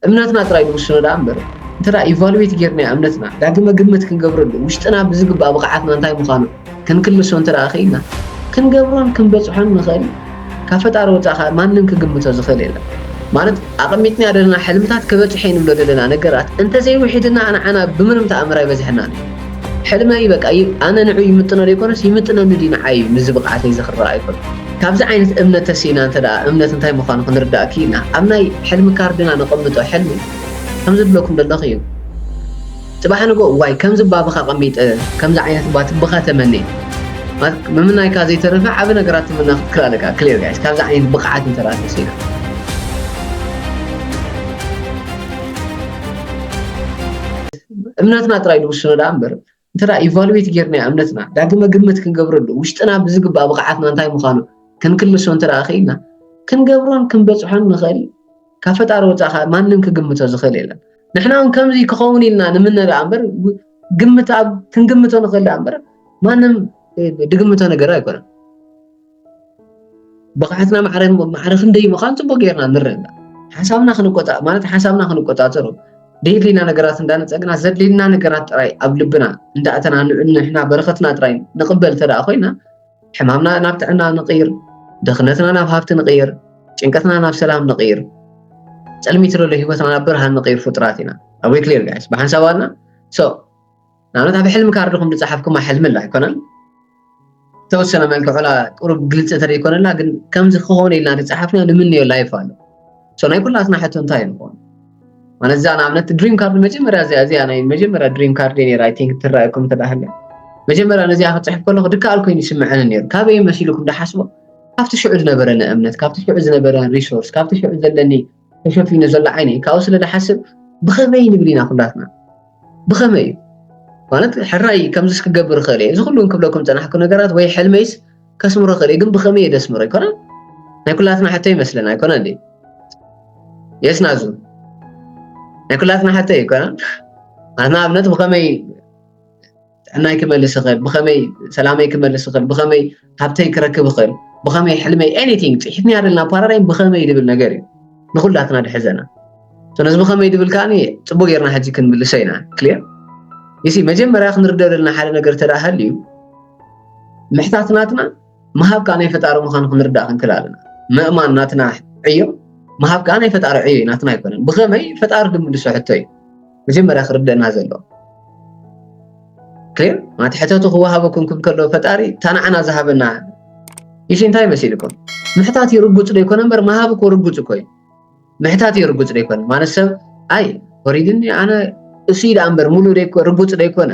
እምነትና ጥራይ ንውስኖ ደኣ እምበር እንተ ኢቫሉዌት ጌርናዮ እምነትና ዳግመ ግምት ክንገብረሉ ውሽጥና ብዝግባእ ብቕዓትና እንታይ ምዃኑ ክንክልሶ እንተ ክኢልና ክንገብሮን ክንበጽሖን ንኽእል ካብ ፈጣሪ ወፃእ ከዓ ማንም ክግምቶ ዝኽእል የለን ማለት ኣቐሚጥና ዘለና ሕልምታት ክበፅሐ ንብሎ ዘለና ነገራት እንተዘይውሒድና ንዓና ብምንም ተኣምር ኣይበዝሐናን እዩ ሕልመ እዩ በቃ ኣነ ንዑ ይምጥኖ ዘይኮነስ ይምጥነኒ ድዩ ንዓይ እዩ ምስዚ ብቕዓተይ እዚ ክረኣ ኣይኮነን ካብዚ ዓይነት እምነት ተሲእና እንተ እምነት እንታይ ምዃኑ ክንርዳእ ክኢልና ኣብ ናይ ሕልሚ ካርድና ነቐምጦ ሕልሚ ከምዚ ብለኩም ደለኹ እዩ ጽባሕ ንጎ ዋይ ከምዚ ባብኻ ቀሚጠ ከምዚ ዓይነት ባት ብኻ ተመኔ ምምናይካ ዘይተረፈ ዓብ ነገራት ትምና ክትክል ኣለካ ክሌር ጋይስ ካብዚ ዓይነት ብቕዓት እንተ ተሲእና እምነትና ጥራይ ዝውስኖ ደኣ እምበር እንተ ኢቫሉዌት ጌርናያ እምነትና ዳግመ ግምት ክንገብረሉ ውሽጥና ብዝግባእ ብቕዓትና እንታይ ምዃኑ ክንክልሶ እንተ ክኢልና ክንገብሮን ክንበፅሖን ንኽእል ካብ ፈጣሪ ወፃእ ከዓ ማንም ክግምቶ ዝኽእል የለን ንሕና እውን ከምዚ ክኸውን ኢልና ንምነ ደኣ እምበር ግምት ኣብ ክንግምቶ ንኽእል ደኣ እምበር ማንም ድግምቶ ነገር ኣይኮነን ብቕዓትና ማዕረ ክንደይ ምዃኑ ፅቡቕ ጌርና ንረዳእ ሓሳብና ክንቆፃእ ማለት ሓሳብና ክንቆፃፀሮ ደየድልየና ነገራት እንዳነፀግና ዘድልየና ነገራት ጥራይ ኣብ ልብና እንዳእተና ንሕና በረኸትና ጥራይ ንቕበል እንተ ኮይና ሕማምና ናብ ጥዕና ንቕይር ድኽነትና ናብ ሃብቲ ንቕይር ጭንቀትና ናብ ሰላም ንቕይር ፅልሚት ዘሎ ሂወትና ናብ ብርሃን ንቕይር ፍጡራት ኢና ኣዌ ክሊር ጋይስ ብሓንሳብ ኣልና ሶ ንኣብነት ኣብ ሕልሚ ካርድኹም ዝፀሓፍኩማ ሕልሚ ኣላ ኣይኮነን ተወሰነ መልክዑ ላ ቁሩብ ግልፂ ተዘይኮነላ ግን ከምዚ ክኾነ ኢልና ዝፀሓፍና ንምንዮ ላይፍ ኣሎ ሶ ናይ ኩላትና ሕቶ እንታይ እዩ ንኾን ማለት እዛ ንኣብነት ድሪም ካርድ መጀመርያ እዚኣ እዚኣ ናይ መጀመርያ ድሪም ካርድ ነይራ ኣይ ቲንክ ትረኣየኩም ተዳሃለ መጀመርያ ነዚኣ ክፅሕፍ ከለኹ ድከኣል ኮይኑ ይስምዐኒ ነይሩ ካበይ መሲልኩም ዳሓስቦ ካብቲ ሽዑ ዝነበረኒ እምነት ካብቲ ሽዑ ዝነበረኒ ሪሶርስ ካብቲ ሽዑ ዘለኒ ተሸፊኑ ዘሎ ዓይኒ እዩ ካብኡ ስለ ዝሓስብ ብኸመይ ንብል ኢና ኩላትና ብኸመይ እዩ ማለት ሕራይ ከምዚስ ክገብር ይኽእል እየ እዚ ኩሉ ክብለኩም ፀናሕኩ ነገራት ወይ ሕልመይስ ከስምሮ ይኽእል እዩ ግን ብኸመይ እየ ደስምሮ ኣይኮነ ናይ ኩላትና ሕቶ ይመስለና ኣይኮነ እንዴ የስናዙ ናይ ኩላትና ሕቶ እዩ ኣይኮነ ንኣብነት ብኸመይ ጥዕናይ ክመልስ ይኽእል ብኸመይ ሰላመይ ክመልስ ይኽእል ብኸመይ ሃብተይ ክረክብ ይኽእል ብኸመይ ሕልመይ ኤኒቲንግ ፅሒት ንያደልና ፓራዳይም ብኸመይ ድብል ነገር እዩ ንኩላትና ድሕዘና ስለዚ ብኸመይ ድብል ከዓኒ ፅቡቅ ጌርና ሕጂ ክንምልሶ ኢና ክሊር ይሲ መጀመርያ ክንርደኦ ዘለና ሓደ ነገር ተዳህል እዩ ምሕታት ናትና ምሃብ ከዓ ናይ ፈጣሪ ምዃኑ ክንርዳእ ክንክል ኣለና ምእማን ናትና ዕዮ ምሃብ ከዓ ናይ ፈጣሪ ዕዮ እዩ ናትና ኣይኮነን ብኸመይ ፈጣሪ ድምልሶ ሕቶ እዩ መጀመርያ ክርደእና ዘለዎ ክም ማቲ ሕተቱ ክወሃበኩም ክም ከሎ ፈጣሪ ታናዕና ዝሃበና ይሽ እንታይ መሲልኩም ምሕታት እዩ ርጉፅ ዶ ይኮነ እምበር ምሃብ እኮ ርጉፅ እኮ እዩ ምሕታት እዩ ርጉፅ ዶ ይኮነ ማለት ሰብ ኣይ ወሪድኒ ኣነ እሱ እዩ ደኣ እምበር ሙሉ ርጉፅ ዶ ይኮነ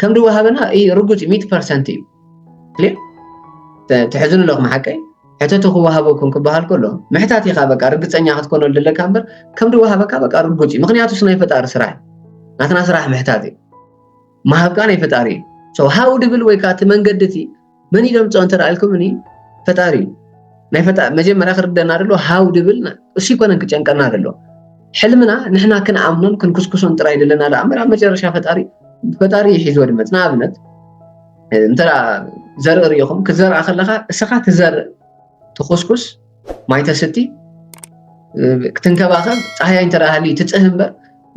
ከም ድወሃበና ርጉፅ እዩ ሚእቲ ፐርሰንት እዩ ክሊር ትሕዝኑ ኣለኹም ሓቀይ ሕተቱ ክወሃበኩም ክበሃል ከሎ ምሕታት ኢኻ በቃ ርግፀኛ ክትኮነሉ ዘለካ እምበር ከም ድወሃበካ በቃ ርጉፅ እዩ ምክንያቱ ስ ናይ ፈጣሪ ስራሕ እዩ ናትና ስራሕ ምሕታት እዩ ምሃብካ ናይ ፈጣሪ እዩ ሰው ሃው ድብል ወይ ከዓ እቲ መንገዲ እቲ መን እዩ ዘምፅኦ እንተልኩምኒ ፈጣሪ እዩ ናይ ፈጣሪ መጀመርያ ክርደና ደሎ ሃው ድብል እሱ ይኮነን ክጨንቀና ደሎ ሕልምና ንሕና ክንኣምኖን ክንኩስኩሶን ጥራይ ዘለና ዶ ኣምበር ኣብ መጨረሻ ፈጣሪ ፈጣሪ ይሒዝዎ ድመፅ ንኣብነት እንተ ዘርኢ ርኢኹም ክትዘርኣ ከለካ እስኻ ትዘርእ ትኩስኩስ ማይ ተስቲ ክትንከባኸብ ፀሓያ እንተደሃሊ ትፅህ እምበር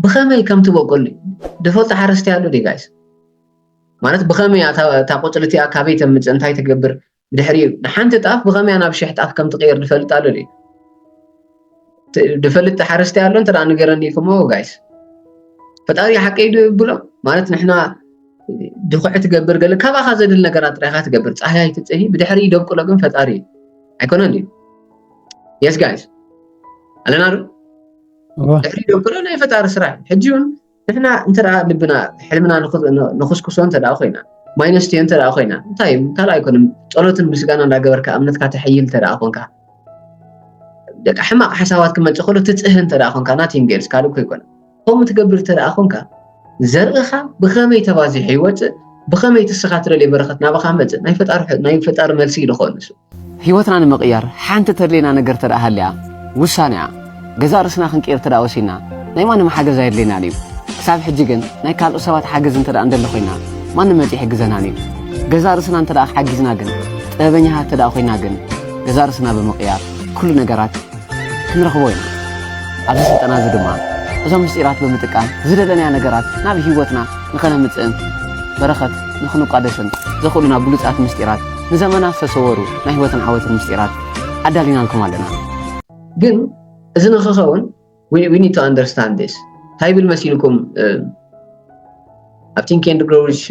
ብኸመይ ከም ትበቁል ድፈልጡ ሓረስቲ ኣሎ ዲ ጋይስ ማለት ብኸመይ እያ እታ ቁፅሪ እቲኣ ካበይ ተምፅእ እንታይ ትገብር ድሕሪ ንሓንቲ ጣፍ ብኸመያ ናብ ሽሕ ጣፍ ከም ትቕየር ድፈልጥ ኣሎ ድዩ ድፈልጥ ሓረስቲ ኣሎ እንተ ንገረኒ ኢልኩሞ ጋይስ ፈጣሪ ሓቂ ብሎ ማለት ንሕና ድኹዕ ትገብር ገለ ካባኻ ዘድል ነገራት ጥራይካ ትገብር ፀሓያ ይትፅሂ ብድሕሪ ይደብቅሎ ግን ፈጣሪ እዩ ኣይኮነን ድዩ የስ ጋይስ ኣለና ዶ ድሕሪ ይደብቅሎ ናይ ፈጣሪ ስራሕ ሕጂ እውን ንሕና እንተ ልብና ሕልምና ንኹስኩሶ እንተ ኮይና ማይ ነስትዮ እንተ ኮይና እንታይ እዩ ካልእ ኣይኮነን ጸሎትን ምስጋና እንዳገበርካ እምነትካ ተሐይል እንተ ኮንካ ደቂ ሕማቕ ሓሳባት ክመጽእ ከሎ ትጽህን እንተ ኮንካ ናቲንግ ገርስ ካልእ እኮ ኣይኮነን ከምኡ ትገብር እንተ ኮንካ ዘርእኻ ብኸመይ ተባዚሑ ይወፅእ ብኸመይ ትስኻ ትደልዮ በረኸት ናባኻ መፅእ ናይ ፈጣሪ መልሲ እዩ ዝኾን ንሱ ህይወትና ንምቕያር ሓንቲ ተድልየና ነገር እንተደኣ ሃልያ ውሳኔኣ ገዛእ ርእስና ክንቅይር እንተደኣ ወሲንና ናይ ማንም ሓገዝ ኣየድልየናን እዩ። ክሳብ ሕጂ ግን ናይ ካልኦት ሰባት ሓገዝ እንተደኣ እንደሊ ኮይና ማንም መጺኡ ኣይሕግዘናን እዩ። ገዛእ ርእስና እንተደኣ ሓጊዝና ግን ጥበበኛታት እንተደኣ ኮይና ግን ገዛእ ርእስና ብምቕያር ኩሉ ነገራት ክንረኽቦ ኢና። ኣብዚ ስልጠና እዚ ድማ እዞም ምስጢራት ብምጥቃም ዝደለናዮ ነገራት ናብ ህይወትና ንኸነምፅእን በረኸት ንኽንቋደስን ዘኽእሉና ብሉፃት ምስጢራት ንዘመናት ዝተሰወሩ ናይ ህይወትን ዓወትን ምስጢራት ኣዳሊናልኩም ኣለና። ግን እዚ ንኽኸውን ዊ ኒድ ቱ ኣንደርስታንድ ዚስ እንታይ ይብል መሲልኩም ኣብ ቲንክ ኤንድ ግሮው ሪች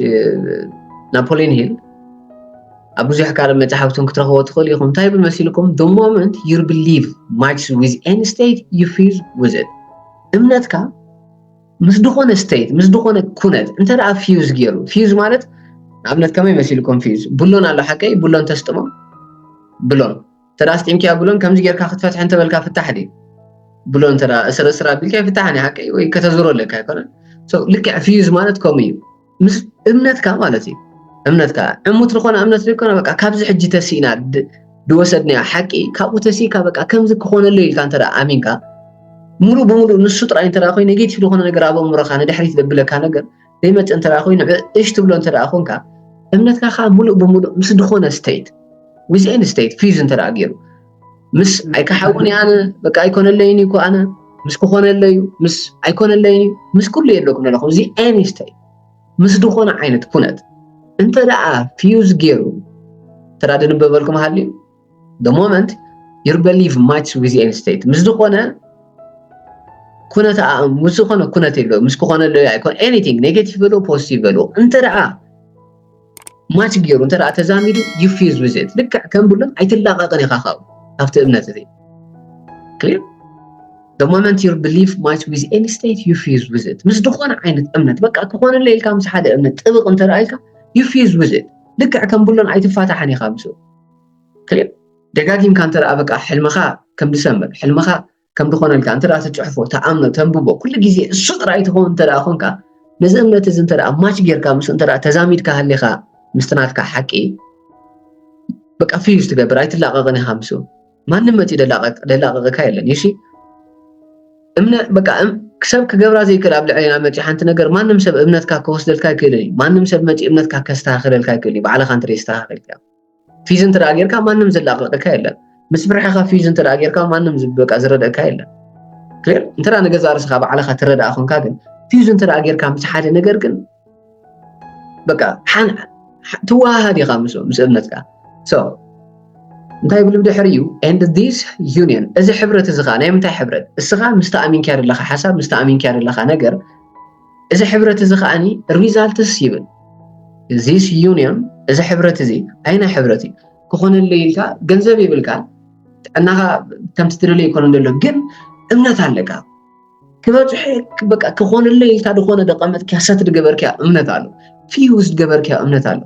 ናፖሊዮን ሂል ኣብ ብዙሕ ካልእ መፅሓፍትን ክትረኽቦ ትኽእል ኢኹም እንታይ ይብል መሲልኩም the moment you believe matches with any state you feel with it እምነትካ ምስ ዝኾነ ስቴት ምስ ዝኾነ ኩነት እንተ ደኣ ፊዩዝ ገይሩ ፊዩዝ ማለት ንኣብነት ከመይ መሲልኩም ፊዩዝ ቡሎን ኣሎ ሓቀይ ቡሎን ተስጥሞ ብሎን እንተ ኣስጢምኪያ ብሎን ከምዚ ጌርካ ክትፈትሒ እንተበልካ ፍታሕ ድዩ ብሎ እንተ እስር እስር ኣቢልካ ይፍታሕን እዩ ሓቂ ወይ ከተዝሮ ኣለካ ኣይኮነን ልክዕ ፍዩዝ ማለት ከምኡ እዩ ምስ እምነትካ ማለት እዩ እምነትካ ዕሙት ዝኾነ እምነት ዘይኮነ በቃ ካብዚ ሕጂ ተሲእና ድወሰድናዮ ሓቂ ካብኡ ተሲእካ በቃ ከምዚ ክኾነለይ ኢልካ እንተ ኣሚንካ ሙሉእ ብሙሉእ ንሱ ጥራይ እንተ ኮይኑ ኔጌቲቭ ዝኾነ ነገር ኣብ ኣእምሮኻ ንድሕሪት ዘብለካ ነገር ዘይመጽእ እንተ ኮይኑ እሽ ትብሎ እንተ ኮንካ እምነትካ ከዓ ሙሉእ ብሙሉእ ምስ ዝኾነ ስቴት ዊዝ ኤን ስቴት ፊዝ እንተ ገይሩ ምስ ኣይከሓውን ኣነ በቃ ኣይኮነለይን እኮ ኣነ ምስ ክኾነለዩ ምስ ኣይኮነለይን ምስ ኩሉ የለኩም ኣለኹም እዚ ኤኒ ስቴት ምስ ዝኾነ ዓይነት ኩነት እንተ ደኣ ፊዩዝ ገይሩ ተራ ድንበበልኩም ሃልዩ the moment your belief match with any state ምስ ዝኾነ ኩነት ምስ ዝኾነ ኩነት የሎ ምስ ክኾነ ኣሎ ኣይኮን ኤኒቲንግ ኔጌቲቭ በሎ ፖዚቲቭ በሎ እንተ ደኣ ማች ገይሩ እንተ ደኣ ተዛሚዱ ዩፊዝ ዊዝት ልክዕ ከም ብሎም ኣይትላቐቕን ኢኻ ካብኡ ካብቲ እምነት እዚ ክሊር The moment your belief match with any state, you fuse with it. ምስ ዝኾነ ዓይነት እምነት በቃ ክኾነለ ኢልካ ምስ ሓደ እምነት ጥብቕ እንተ ደኣ ኢልካ you fuse with it. ልክዕ ከም ብሎን ኣይትፋታሕን ኢኻ ምስኡ ክሊር ደጋጊምካ እንተ ደኣ በቃ ሕልምኻ ከም ዝሰምር ሕልምኻ ከም ዝኾነልካ እንተ ደኣ ትጽሕፎ ተኣምኖ ተንብቦ ኩሉ ግዜ እሱ ጥራይ ትኸውን እንተ ደኣ ኮንካ ነዚ እምነት እዚ እንተ ደኣ ማች ጌርካ ምስ እንተ ደኣ ተዛሚድካ ሃሊኻ ምስቲ ናትካ ሓቂ በቃ ፍዩዝ ትገብር ኣይትላቐቕን ኢኻ ምስ ማንም መጺኡ ደላቐቕካ የለን ዩሲ እምነ በቃ ሰብ ክገብራ ዘይክእል ኣብ ልዕሌና መፂ ሓንቲ ነገር ማንም ሰብ እምነትካ ክወስደልካ ኣይክእልን እዩ ማንም ሰብ መፂ እምነትካ ከስተካክለልካ ኣይክእል እዩ ባዕልካ እንተ ዘይስተካከልካ ፊዝ እንተ ጌርካ ማንም ዝላቐቀካ የለን ምስ ብርሕኻ ፊዝ እንተ ጌርካ ማንም ዝበቃ ዝረደእካ የለን ክር እንተ ንገዛ ርስኻ ባዕልኻ ትረዳእ ኮንካ ግን ፊዝ እንተ ጌርካ ምስ ሓደ ነገር ግን በቃ ሓን ትወሃሃድ ኢኻ ምስ ምስ እምነትካ ሶ እንታይ ብሉ ድሕሪ እዩ ኤንድ ዲስ ዩኒየን እዚ ሕብረት እዚ ከዓ ናይ ምንታይ ሕብረት እስኻ ምስ ተኣሚንካ ዘለኻ ሓሳብ ምስ ተኣሚንካ ዘለኻ ነገር እዚ ሕብረት እዚ ከዓኒ ሪዛልትስ ይብል ዚስ ዩኒዮን እዚ ሕብረት እዚ ኣይና ሕብረት እዩ ክኾነለይ ኢልካ ገንዘብ ይብልካ ጥዕናኻ ከምቲ ትደልዮ ይኮነ ዘሎ ግን እምነት ኣለካ ክበፅሐ በቃ ክኾነለይ ኢልካ ዝኾነ ደቀመጥክያ ሰት ድገበርክያ እምነት ኣሎ ፊውዝ ድገበርክያ እምነት ኣሎ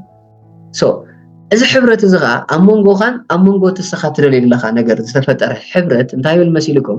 ሶ እዚ ሕብረት እዚ ከዓ ኣብ መንጎኻን ኣብ መንጎ እቲ ንስኻ ትደልዮ ዘለካ ነገር ዝተፈጠረ ሕብረት እንታይ ይብል መሲልኩም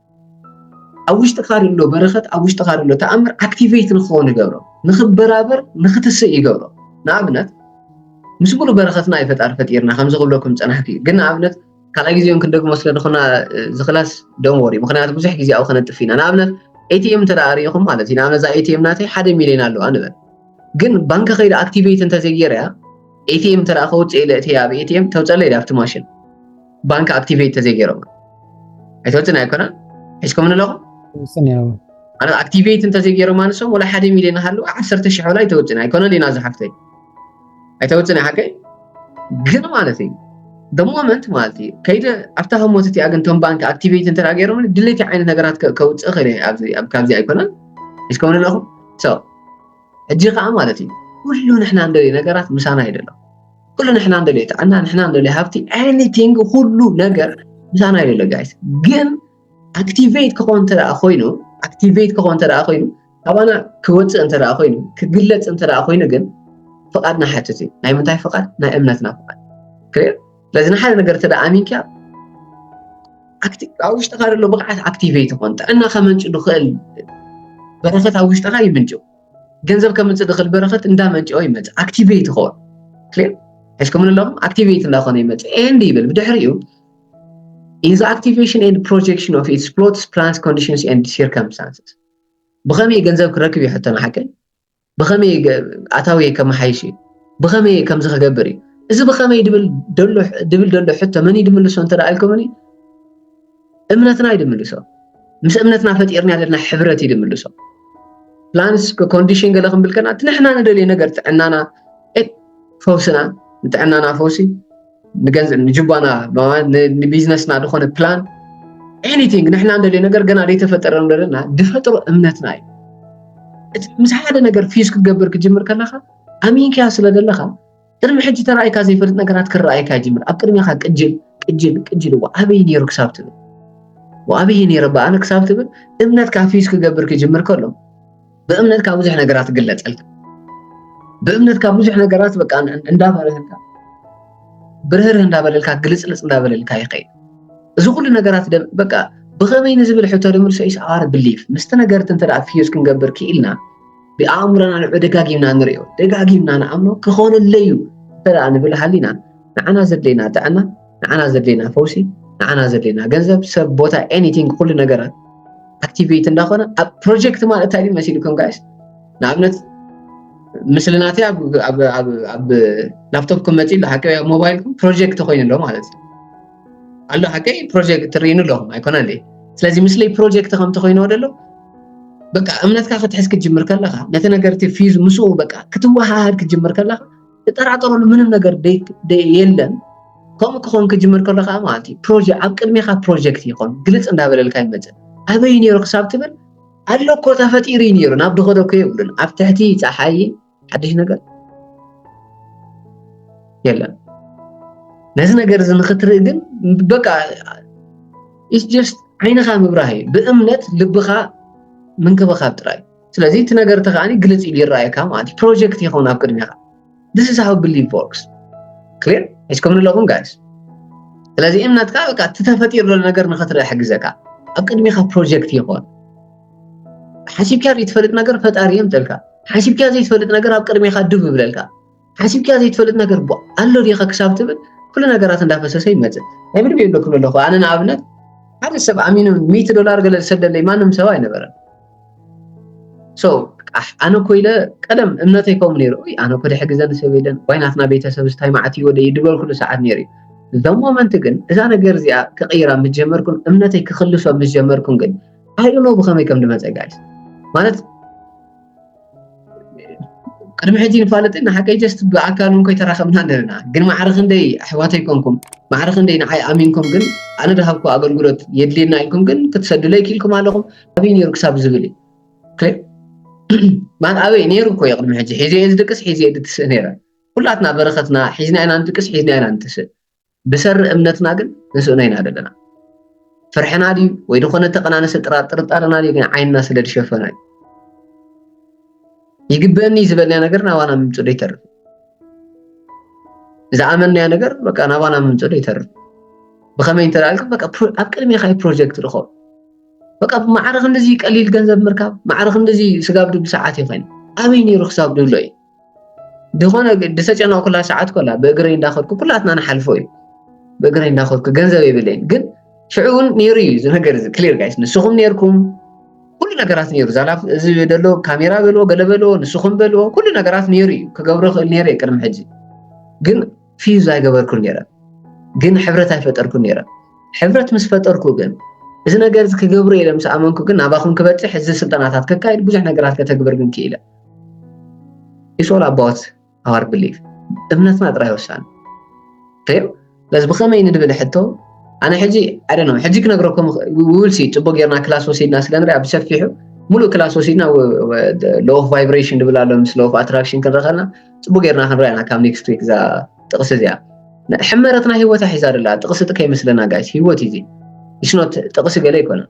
ኣብ ውሽጥኻ ዘሎ በረኸት ኣብ ውሽጥኻ ዘሎ ተኣምር ኣክቲቬት ንክኸውን ይገብሮ ንክበራበር ንክትስእ ይገብሮ ንኣብነት ምስ ሙሉእ በረኸትና እዩ ፈጣሪ ፈጢርና ከምዚ ክብለኩም ፀናሕኩ እዩ ግን ንኣብነት ካልኣይ ግዜ እውን ክንደግሞ ስለ ዝኾና ዝክላስ ደም ወሪ ምክንያቱ ብዙሕ ግዜ ኣብኡ ከነጥፍ ኢና ንኣብነት ኤቲኤም እንተ ሪኢኹም ማለት እዩ ንኣብነት እዛ ኤቲኤም ናተይ ሓደ ሚሊዮን ኣለዋ ንበል ግን ባንኪ ከይደ ኣክቲቬት እንተዘይገይረ እያ ኤቲኤም እንተ ከውፅእ ኢለ እትያ ኣብ ኤቲኤም ተውፀለይ ኣብቲ ማሽን ባንክ ኣክቲቬት ተዘይገይሮም ኣይትፈልጥን ኣይኮነ ሒዝኩም ንለኹም ማለት ኣክቲቬት እንተዘይገይሮም ኣንሶም ወላ ሓደ ሚልዮን ሃሉ ዓሰርተ ሽሕ ወላ ኣይተውፅን ኣይኮነን ኢና ዝሓፍተይ ኣይተውፅን ሓቀይ ግን ማለት እዩ ደሞመንት ማለት እዩ ከይደ ኣብታ ህሞት እቲኣ ግን ቶም ባንክ ኣክቲቬት እንተ ገይሮም ድሌቲ ዓይነት ነገራት ከውፅእ ክእል ኣብ ካብዚ ኣይኮነን ሒዝኩም ንለኹም ሕጂ ከዓ ማለት እዩ ኩሉ ንሕና እንደልዩ ነገራት ምሳና ይደሎ ኩሉ ንሕና እንደልዮ ጥዕና ንሕና እንደልዮ ሃብቲ ኤኒቲንግ ኩሉ ነገር ምሳና እዩ ዘሎ ጋይስ ግን ኣክቲቬት ክኾን እንተ ኮይኑ ኣክቲቬት ክኾን እንተ ኮይኑ ካባና ክወፅእ እንተ ኮይኑ ክግለፅ እንተ ኮይኑ ግን ፍቓድና ሓትት እዩ ናይ ምንታይ ፍቓድ ናይ እምነትና ፍቓድ ክልር ስለዚ ንሓደ ነገር እተ ኣሚንካ ኣብ ውሽጥካ ዘሎ ብቕዓት ኣክቲቬት ይኾን ጥዕና ከመንጭ ዝኽእል በረከት ኣብ ውሽጥካ ይምንጭው ገንዘብ ከምፅእ ድኽል በረኸት እንዳመንጭኦ ይመፅእ ኣክቲቬት ይኸውን ክሊር ሕዝኩም ንሎም ኣክቲቬት እንዳኾነ ይመፅእ ኤንድ ይብል ብድሕሪኡ ኢን ዘ ኣክቲቬሽን ኤንድ ፕሮጀክሽን ኦፍ ኢትስ ፕሎትስ ፕላንስ ኮንዲሽንስ ኤንድ ሲርከምስታንስስ ብኸመይ ገንዘብ ክረክብ እዩ ሕቶ ንሓቀይ ብኸመይ ኣታዊ ከመሓይሽ እዩ ብኸመይ ከምዚ ክገብር እዩ እዚ ብኸመይ ድብል ደሎ ሕቶ መን እዩ ድምልሶ እንተ ኢልኩምኒ እምነትና እዩ ድምልሶ ምስ እምነትና ፈጢርና ዘለና ሕብረት እዩ ድምልሶ ፕላንስ ኮንዲሽን ገለ ክንብል ከና እቲ ንሕና ንደልዮ ነገር ጥዕናና ፈውስና ንጥዕናና ፈውሲ ንገንዘብ ንጅባና ንቢዝነስና ዝኾነ ፕላን ኤኒቲንግ ንሕና እንደልዮ ነገር ገና ዘይተፈጠረ ንደለና ድፈጥሮ እምነትና እዩ ምስ ሓደ ነገር ፊዝ ክትገብር ክትጅምር ከለካ ኣሚንክያ ስለ ዘለካ ቅድሚ ሕጂ ተራእይካ ዘይፈልጥ ነገራት ክረኣየካ ይጅምር ኣብ ቅድሜኻ ቅጅል ቅጅል ቅጅል እዋ ኣበይ ነይሩ ክሳብ ትብል ወኣበይ ነይረ በኣነ ክሳብ ትብል እምነትካ ፊዝ ክገብር ክጅምር ከሎ ብእምነትካ ብዙሕ ነገራት ግለፀልካ ብእምነትካ ብዙሕ ነገራት በቃ እንዳበረህልካ ብርህርህ እንዳበለልካ ግልፅልፅ እንዳበለልካ ይኸይድ እዚ ኩሉ ነገራት በቃ ብኸመይ ንዝብል ሕቶ ንምልሶ ኢሰ ኣር ብሊፍ ምስቲ ነገርት እንተ ፊዝ ክንገብር ክኢልና ብኣእምሮና ንዑ ደጋጊምና ንሪኦ ደጋጊምና ንኣምኖ ክኾነለይ እዩ እንተ ንብል ሃሊና ንዓና ዘድለየና ጥዕና ንዓና ዘድለየና ፈውሲ ንዓና ዘድለየና ገንዘብ ሰብ ቦታ ኤኒቲንግ ኩሉ ነገራት ኣክቲቬት እንዳኾነ ኣብ ፕሮጀክት ማለት እንታይ ድዩ መሲልኩም ጋይስ ንኣብነት ምስሊ ናተይ ኣብ ላፕቶፕኩም መፂኡ ኣሎ ሓቂ ኣብ ሞባይልኩም ፕሮጀክት ኮይኑ ኣሎ ማለት እዩ ኣሎ ሓቀይ ፕሮጀክት ትርኢኑ ኣሎ ኣይኮነ እንዴ ስለዚ ምስሊ ፕሮጀክት ከም ተኮይኑ ደሎ በቃ እምነትካ ክትሕዝ ክትጅምር ከለካ ነቲ ነገር እቲ ፊዝ ምስኡ በቃ ክትወሃሃድ ክትጅምር ከለካ ትጠራጠረሉ ምንም ነገር የለን ከምኡ ክኸውን ክጅምር ከሎ ከዓ ማለት እዩ ፕሮጀ ኣብ ቅድሜካ ፕሮጀክት ይኾን ግልፅ እንዳበለልካ ይመፅእ ኣበይ ነይሩ ክሳብ ትብል ኣሎ እኮ ተፈጢሩ እዩ ነይሩ ናብ ድኾዶ እኮ የብሉን ኣብ ትሕቲ ፀሓይ ሓድሽ ነገር የለን ነዚ ነገር እዚ ንክትርኢ ግን በቃ ኢስ ጀስት ዓይንኻ ምብራህ እዩ ብእምነት ልብኻ ምንክብኻብ ጥራይ ስለዚ እቲ ነገር እቲ ከዓኒ ግልፅ ኢሉ ይረኣየካ ማለት እዩ ፕሮጀክት ይኸውን ኣብ ቅድሚኻ this is how belief works clear ሒዝኩም ኣለኹም ጋይስ ስለዚ እምነትካ በቃ እቲ ተፈጢሩ ዘሎ ነገር ንክትርኢ ሕግዘካ ኣብ ቅድሚኻ ፕሮጀክት ይኾን ሓሲብካ ዘይትፈልጥ ነገር ፈጣሪ የምፀልካ ሓሲብካ ዘይትፈልጥ ነገር ኣብ ቅድሜኻ ድብ ይብለልካ ሓሲብካ ዘይትፈልጥ ነገር ቧ ኣሎ ዲኻ ክሳብ ትብል ኩሉ ነገራት እንዳፈሰሰ ይመፅእ ናይ ብድብ የሎ ክብል ኣለኹ ኣነ ንኣብነት ሓደ ሰብ ኣሚኑ ሚእቲ ዶላር ገለ ዝሰደለይ ማንም ሰብ ኣይነበረን ሶ ኣነ እኮ ኢለ ቀደም እምነተይ ከምኡ ነይሩ ይ ኣነ እኮ ድሕሪ ግዘ ንሰብ የለን ዋይ ናትና ቤተሰብ ዝታይ ማዕት እዩ ወደ ድበልኩሉ ሰዓት ነይሩ እዩ እዞም ሞመንት ግን እዛ ነገር እዚኣ ክቕይራ ምስ ጀመርኩን እምነተይ ክኽልሶ ምስ ጀመርኩን ግን ኣይ ዶንት ኖ ብኸመይ ከም ዝመፀ ጋይስ ማለት ቅድሚ ሕጂ ንፋለጥ ንሓቀይ ጀስት ብኣካል እውን ከይተራኸብና ነርና ግን ማዕረ ክንደይ ኣሕዋተይ ኮንኩም ማዕረ ክንደይ ንዓይ ኣሚንኩም ግን ኣነ ድሃብኩ ኣገልግሎት የድልየና ኢልኩም ግን ክትሰዱለይ ክኢልኩም ኣለኹም ኣብይ ነይሩ ክሳብ ዝብል እዩ ማለት ኣበይ ነይሩ እኮ እዩ ቅድሚ ሕጂ ሒዘ እየ ዝድቅስ ሒዘ እየ ድትስእ ነይረ ኩላትና በረኸትና ሒዝና ኢና ንድቅስ ሒዝና ኢና ንትስእ ብሰሪ እምነትና ግን ንስእኖ ኢና ዘለና ፍርሕና ድዩ ወይ ዝኾነ ተቀናነሰ ጥርጣረና ድዩ ግን ዓይንና ስለ ዝሸፈኖ እዩ ይግበአኒ ዝበልናዮ ነገር ናባና ምምፁ ዶ ይተርፍ ዝኣመንናዮ ነገር በቃ ናባና ምምፁ ዶ ይተርፍ ብኸመይ እንተ ኢልኩም በቃ ኣብ ቅድሜኻ እዩ ፕሮጀክት ድኾ በቃ ማዕረ ክንድዚ ቀሊል ገንዘብ ምርካብ ማዕረ ክንድዚ ስጋብ ድብል ሰዓት እዩ ኮይኑ ኣበይ ነይሩ ክሳብ ድብሎ እዩ ዝኾነ ዝተጨነቕኩላ ሰዓት ኮላ ብእግረይ እንዳኸድኩ ኩላትና ንሓልፎ እዩ ብእግረይ እንዳኸድኩ ገንዘብ የብለይን ግን ሽዑ እውን ነይሩ እዩ እዚ ነገር እዚ ክሊር ጋይስ ንስኹም ነይርኩም ኩሉ ነገራት ነይሩ ዛላ እዚ ደሎ ካሜራ በልዎ ገለ በልዎ ንስኹም በልዎ ኩሉ ነገራት ነይሩ እዩ ክገብሮ ክእል ነይረ ቅድሚ ሕጂ ግን ፊዝ ኣይገበርኩን ነይረ ግን ሕብረት ኣይፈጠርኩን ነይረ ሕብረት ምስ ፈጠርኩ ግን እዚ ነገር እዚ ክገብሩ ኢለ ምስ ኣመንኩ ግን ናባኹም ክበፅሕ እዚ ስልጠናታት ከካይድ ብዙሕ ነገራት ከተግብር ግን ክኢለ ኢትስ ኦል ኣባውት ኣወር ብሊፍ እምነትና ጥራይ ወሳኒ ተዩ ስለዚ ብኸመይ ንድብል ሕቶ ኣነ ሕጂ ኣደነ ሕጂ ክነግረኩም ውልሲ ፅቡቅ ጌርና ክላስ ወሲድና ስለ ንሪኣ ብሰፊሑ ሙሉእ ክላስ ወሲድና ሎ ኦፍ ቫይብሬሽን ድብል ኣሎ ምስ ሎ ኦፍ ኣትራክሽን ክንርኢ ከለና ፅቡቅ ጌርና ክንሪኣ ኢና ካብ ኔክስት ዊክ እዛ ጥቕሲ እዚኣ ሕመረትና ሂወታ ሒዛ ደላ ጥቕሲ ጥ ከይመስለና ጋይስ ሂወት እዩ እዚ ኢስኖት ጥቕሲ ገለ ኣይኮነን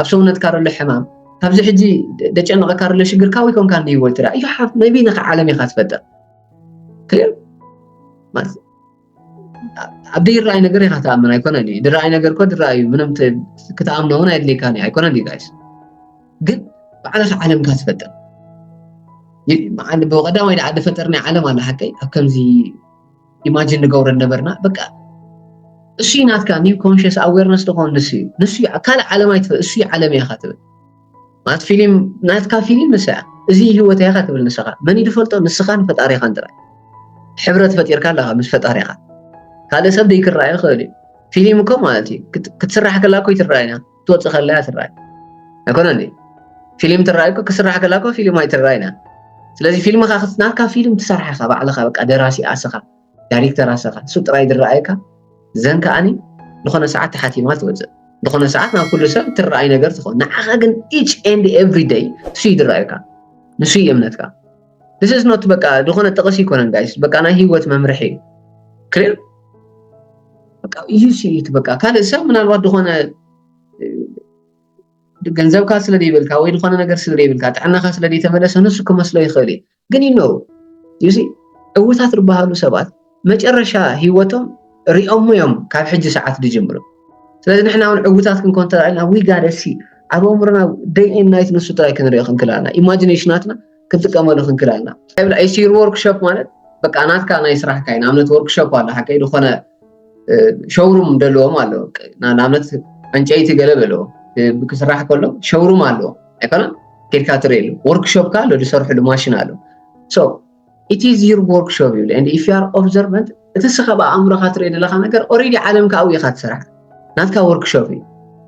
ኣብ ሰውነትካ ዘሎ ሕማም ካብዚ ሕጂ ደጨነቐካ ዘሎ ሽግር ካበይ ኮንካ እንድዩ ወልትራ እዩ ሓፍ መቢ ነካ ዓለም ኢኻ ትፈጥር ክሊር ኣብ ዘይረኣይ ነገር ኢኻ ትኣምን ኣይኮነን እዩ ድረኣይ ነገር ኮ ድረኣ እዩ ምንም ክትኣምኖ እውን ኣየድልየካን እዩ ኣይኮነን እዩ ጋይስ ግን ባዕልኻ ዓለምካ ትፈጥር ብቐዳማይ ድኣ ድፈጠርናይ ዓለም ኣላ ሓቀይ ኣብ ከምዚ ኢማጂን ንገብሮ ነበርና በቃ እሱ ናትካ ኒው ኮንሽስ ኣዌርነስ ዝኾን ንሱ እዩ ንሱ ካልእ ዓለም ኣይትበል እሱ ዓለም እያ ትብል ማለት ፊልም ናትካ ፊልም ንሳ እያ እዚ ህይወት እያ ትብል ንስኻ መን ይድፈልጦ ንስኻን ፈጣሪኻን ጥራይ ሕብረት ፈጢርካ ኣለኻ ምስ ፈጣሪኻ ካልእ ሰብ ዘይክረኣዩ ይኽእል እዩ ፊልም እኮ ማለት እዩ ክትስራሕ ከላ እኮ ይትረኣዩና ክትወፅእ ከላ እያ ትረኣይ ኣይኮነ እንዴ ፊልም ትረኣይ እኮ ክስራሕ ከላ እኮ ፊልም ኣይትረኣይና ስለዚ ፊልምካ ናትካ ፊልም ትሰርሓ ኢካ ባዕልካ በቃ ደራሲ ኣስኻ ዳይሬክተር ኣስኻ እሱ ጥራይ ዝረኣየካ ዘን ከዓኒ ዝኾነ ሰዓት ተሓቲማ ትወፅእ ዝኾነ ሰዓት ናብ ኩሉ ሰብ ትረኣይ ነገር ትኸውን ንዓኻ ግን ኢች ኤንድ ኤቭሪ ደይ ንሱ ይድረኣዩካ ንሱ እዩ እምነትካ this is not በቃ ዝኾነ ጥቕስ ይኮነን ጋይስ በቃ ናይ ህይወት መምርሒ እዩ ክሊር በቃ እዩ ሲኢት በቃ ካልእ ሰብ ምናልባት ዝኾነ ገንዘብካ ስለ ዘይብልካ ወይ ዝኾነ ነገር ስለ ዘይብልካ ጥዕናኻ ስለ ዘይተመለሰ ንሱ ክመስሎ ይኽእል እዩ ግን ይነው ዩሲ ዕውታት ዝበሃሉ ሰባት መጨረሻ ሂወቶም ሪኦሞ እዮም ካብ ሕጂ ሰዓት ድጅምሩ ስለዚ ንሕና እውን ዕውታት ክንኮን ተራኢልና ዊ ጋደ ሲ ኣብ ኣእምሮና ደይ ኤን ናይት ንሱ ጥራይ ክንሪኦ ክንክል ኣለና ኢማጂኔሽናትና ክንጥቀመሉ ክንክል ኣለና ይብላ ኢሲር ወርክሾፕ ማለት በቃ ናትካ ናይ ስራሕካ እዩ ንኣብነት ወርክሾፕ ኣሎ ሓቀይ ዝኾነ ሸውሩም ደለዎም ኣለዎ ንኣብነት ዕንጨይቲ ገለ በለዎ ክስራሕ ከሎ ሸውሩም ኣለዎ ኣይኮነን ኬድካ ትርእየሉ ወርክሾፕካ ኣሎ ዝሰርሕሉ ማሽን ኣሎ It is your workshop ይብል and if you are observant እቲ እስኻ ብኣእምሮኻ ትርኢ ዘለኻ ነገር ኦሬዲ ዓለምካ ኣብኡ ኢኻ ትሰርሕ ናትካ ወርክሾፕ እዩ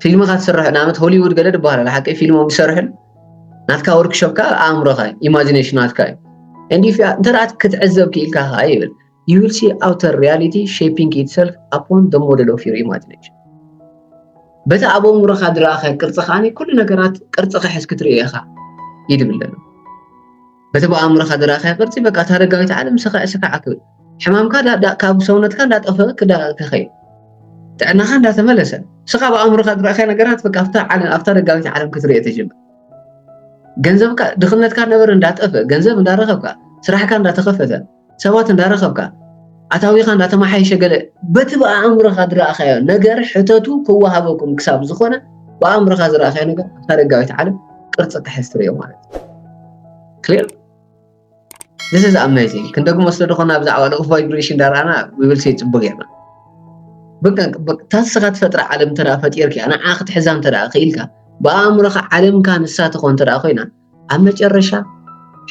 ፊልምኻ ትስርሕ ንኣብነት ሆሊውድ ገለ ድበሃል ኣለ ሓቂ ፊልሞም ዝሰርሕን ናትካ ወርክሾፕ ከዓ ኣእምሮኻ ኢማጂኔሽን ናትካ እዩ and if እንተ ክትዕዘብ ክኢልካ ከዓ ይብል you will see outer reality shaping itself upon the model of your imagination በቲ ኣብ ኣእምሮኻ ድረኣኸ ቅርፂ ከዓኒ ኩሉ ነገራት ቅርፂ ክሕዝ ክትርኢ ኢኻ ይድብለሉ በቲ ብኣእምሮኻ ዝረኣኻዮ ቅርጺ በቃ እታ ኣረጋዊት ዓለም ስካዕ ስካዕ ክብል ሕማምካ ካብ ሰውነትካ እንዳጠፈ ክኸይድ ጥዕናኻ እንዳተመለሰ ንስኻ ብኣእምሮኻ ዝረኣኻዮ ነገራት በቃ ኣብታ ኣረጋዊት ዓለም ክትርእዮ ተጀምር ገንዘብካ ድኽነትካ ነበረ እንዳጠፈ ገንዘብ እንዳረኸብካ ስራሕካ እንዳተኸፈተ ሰባት እንዳረኸብካ ኣታዊኻ እንዳተመሓየሸ ገለ በቲ ብኣእምሮኻ ዝረኣኻዮ ነገር ሕተቱ ክወሃበኩም ክሳብ ዝኾነ ብኣእምሮኻ ዝረኣኻዮ ነገር ኣብታ ደጋዊት ዓለም ቅርፂ ክሕዝ ትርእዮ ማለት እዩ ክሊር This is amazing ክንደግሞ ስለ ዝኾና ብዛዕባ ልኡኽ ቫይብሬሽን ዳርኣና ዊብልሲ ፅቡቅ ጌርና እታ ንስኻ ትፈጥራ ዓለም እንተ ፈጢርካ ንዓ ክትሕዛ እንተ ክኢልካ ብኣእምሮኻ ዓለምካ ንሳ ትኾን እንተ ኮይና ኣብ መጨረሻ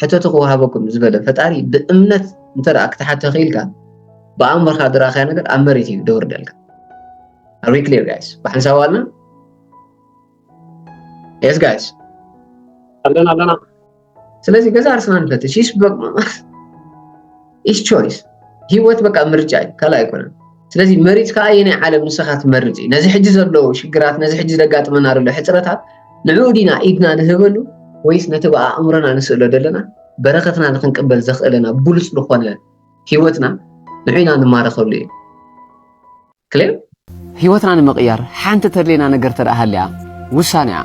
ሕተቱ ክወሃበኩም ዝበለ ፈጣሪ ብእምነት እንተ ክትሓተ ክኢልካ ብኣእምሮኻ ዝረኣኻዮ ነገር ኣብ መሬት እዩ ደውርደልካ ኣር ክሊር ጋይስ ብሓንሳብ ኣለና የስ ጋይስ ኣለና ኣለና ስለዚ ገዛ ኣርስና ንፈትሽ ይስበቅ ኢስ ቾይስ ሂወት በቃ ምርጫ እዩ ካልእ ኣይኮነን ስለዚ መሪጽካ ኣየናይ ዓለም ንስኻ ትመርጽ እዩ ነዚ ሕጂ ዘሎ ሽግራት ነዚ ሕጂ ዘጋጥመና ዘሎ ሕጽረታት ንዕኡ ዲና ኢድና ንህበሉ ወይስ ነቲ ብኣእምሮና ንስእሎ ዘለና በረኸትና ንክንቅበል ዘኽእለና ብሉጽ ዝኾነ ሂወትና ንዑና ንማረኸሉ እዩ ክሌብ። ህይወትና ንምቕያር ሓንቲ ተድልየና ነገር ተድኣ ሃልያ ውሳኔኣ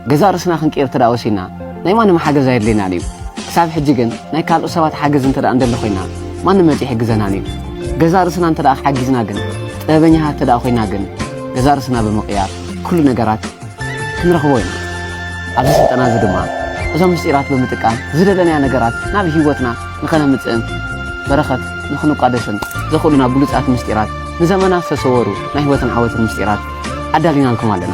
ገዛእ ርእስና ክንቅይር ተድኣ ወሲንና ናይ ማንም ሓገዝ ኣየድልየናን እዩ። ክሳብ ሕጂ ግን ናይ ካልኦት ሰባት ሓገዝ እንተድኣ እንደሊ ኮይና ማንም መጺኡ ኣይሕግዘናን እዩ። ገዛእ ርእስና እንተድኣ ሓጊዝና ግን ጥበበኛታት እንተድኣ ኮይና ግን ገዛእ ርእስና ብምቕያር ኩሉ ነገራት ክንረኽቦ ኢና። ኣብዚ ስልጠና እዚ ድማ እዞም ምስጢራት ብምጥቃም ዝደለናያ ነገራት ናብ ህይወትና ንኸነምፅእን በረኸት ንኽንቋደስን ዘኽእሉና ብሉፃት ምስጢራት ንዘመናት ዝተሰወሩ ናይ ህይወትን ዓወትን ምስጢራት ኣዳሊናልኩም ኣለና።